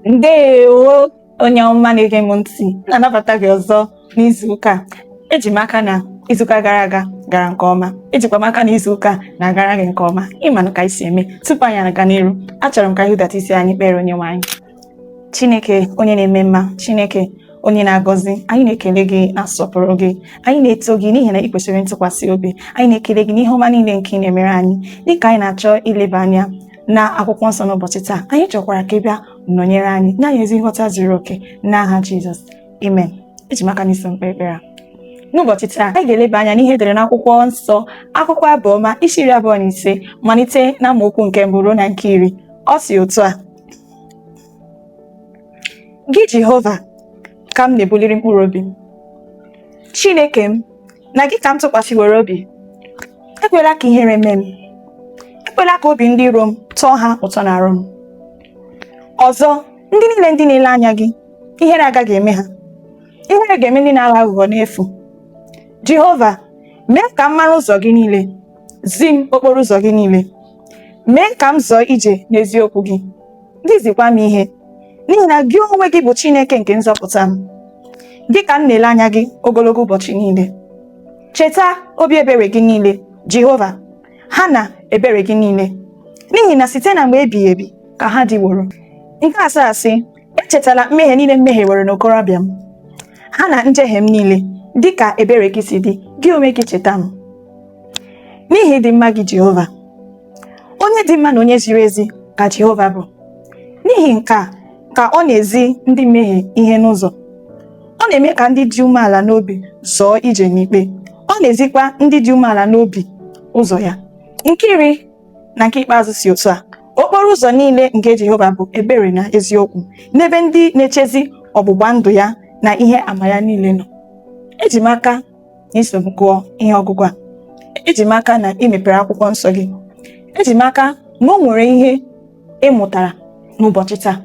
ndewo onye ọma na-ege m ntị na-anabata gị ọzọ n'izu ụka eji m aka na izuụka gara aga gara nke ọma ejikwa m aka na izuụka na-agara gị nke ọma ị manụ ka anyị si eme tupu anyị aga n'iru achọrọ m ka anyị hudata isi anyị kpere onyenwe anyị chineke onye na-eme mma chineke onye na-agọzi anyị na-ekele gị na-asọpụrụ gị anyị na-eto gị n'ihi na ị kwesịrị ntụkwasị obi anyị na-ekele gị n'ihe ọma niile nke ị na-emere anyị dịka anyị na-achọ ileba anya na akwụkwọ nsọ n'ụbọchị taa anyị chọkwara ka ị bịa nọnyere anyị nye anyị ezi nghọta zuru oke n'aha Jizọs amen eji m aka na i so m kpee ekpere a n'ụbọchị taa anyị ga-eleba anya n'ihe e dere n'akwụkwọ nsọ akwụkwọ abụọma isi iri abụọ na ise malite na amaokwu nke mbụ ruo na nke iri ọ sị otu a gị Jehova ka m na-ebuliri mkpụrụ obi m Chineke m na gị ka m tụkwasịwere obi ekwela ka ihere mee m ekwela ka obi ndị iro m tọọ ha ụtọ n'arụ m ọzọ ndị niile ndị na-ele anya gị ihere agaghị eme ha ihere ga-eme ndị na-aghọ aghụghọ n'efu jehova mee ka m mara ụzọ gị niile zi m okporo ụzọ gị niile mee ka m zọọ ije n'eziokwu gị zikwa m ihe n'ihi na gị onwe gị bụ Chineke nke nzọpụta m gị ka m na-ele anya gị ogologo ụbọchị niile cheta obi ebere gị niile Jehova ha na ebere gị niile n'ihi na site na mgbe ebighị ebi ka ha dịworo nke asaa sị echetala mmehie niile m mehiewere n'okorobịa m ha na njehie m niile dị ka ebere gị si dị gị onwe gị cheta m n'ihi ịdị mma gị Jehova onye dị mma na onye ziri ezi ka Jehova bụ n'ihi nke a ka ọ na-ezi ndị mmehie ihe n'ụzọ ọ na-eme ka ndị dị umeala n'obi zọọ ije n'ikpe ọ na-ezikwa ndị dị umeala n'obi ụzọ ya nke iri na nke ikpeazụ sị otu a okporo ụzọ niile nke Jehova bụ ebere na eziokwu n'ebe ndị na-echezi ọgbụgba ndụ ya na ihe ama ya niile nọ eji m aka na i so m gụọ ihe ọgụgụ a eji m aka na i mepere akwụkwọ nsọ gị eji m aka na o nwere ihe ị mụtara n'ụbọchị taa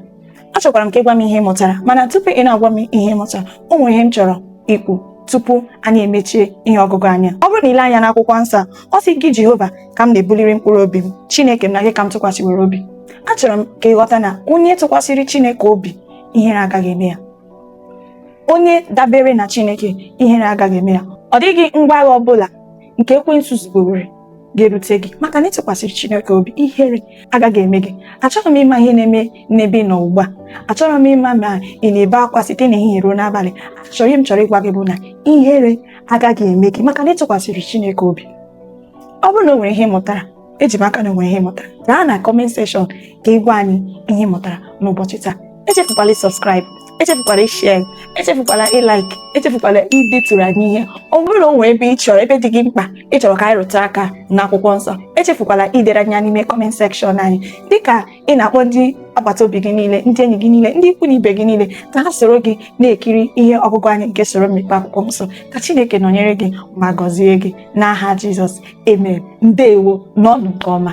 achọkwara m ka ị gwa m ihe ị mụtara mana tupu ị na-agwa m ihe ị mụtara o nwere ihe m chọrọ ikwu tupu anyị emechie ihe ọgụgụ anyị a ọ bụrụ na i lee anya n'akwụkwọ nsọ a, ọ sị gị jehova ka m na-ebuliri mkpụrụ obi m chineke m na gị ka m tụkwasịwere obi achọrọ m ka ị ghọta na onye tụkwasịrị chineke obi ihere agaghị eme ya onye dabere na Chineke ihere agaghị eme ya ọ dịghị ngwa agha ọbụla nke ekwensu zubewere ga-erute gị maka na ịtụkwasịrị Chineke obi ihere agaghị eme gị achọghị m ịma ihe na-eme n'ebe ị nọ ugbu a achọghị m ịma ma ị na-ebe akwa site n'ehihie ruo n'abalị achọrọ ihe m chọrọ ịgwa gị bụ na ihere agaghị eme gị maka na ị tụkwasịrị Chineke obi ọ bụrụ na o nwere ihe ị mụtara eji m aka na onwere ihe ị mụtara gaa na kọment sekshọn ka ị gwa anyị ihe ị mụtara n'ụbọchị taa echefukwala ịsọskraịbụ echefukwala ishare echefukwala ilaik echefukwala ideturu anyị ihe ọ bụrụ na o nwere ebe ị chọrọ ebe dị gị mkpa ị chọrọ ka anyị rụtụ aka n'akwụkwọ nsọ echefukwala idere anyị ya n'ime kọment sekshọn anyị dịka ị na-akpọ ndị agbata obi gị niile ndị enyi gị niile ndị ikwu na ibe gị niile ka ha soro gị na-ekiri ihe ọgụgụ anyị nke usoro mmepe akwụkwọ nsọ ka Chineke nọnyere gị ma gọzie gị n'aha Jizọs amen ndewo nọnụ nke ọma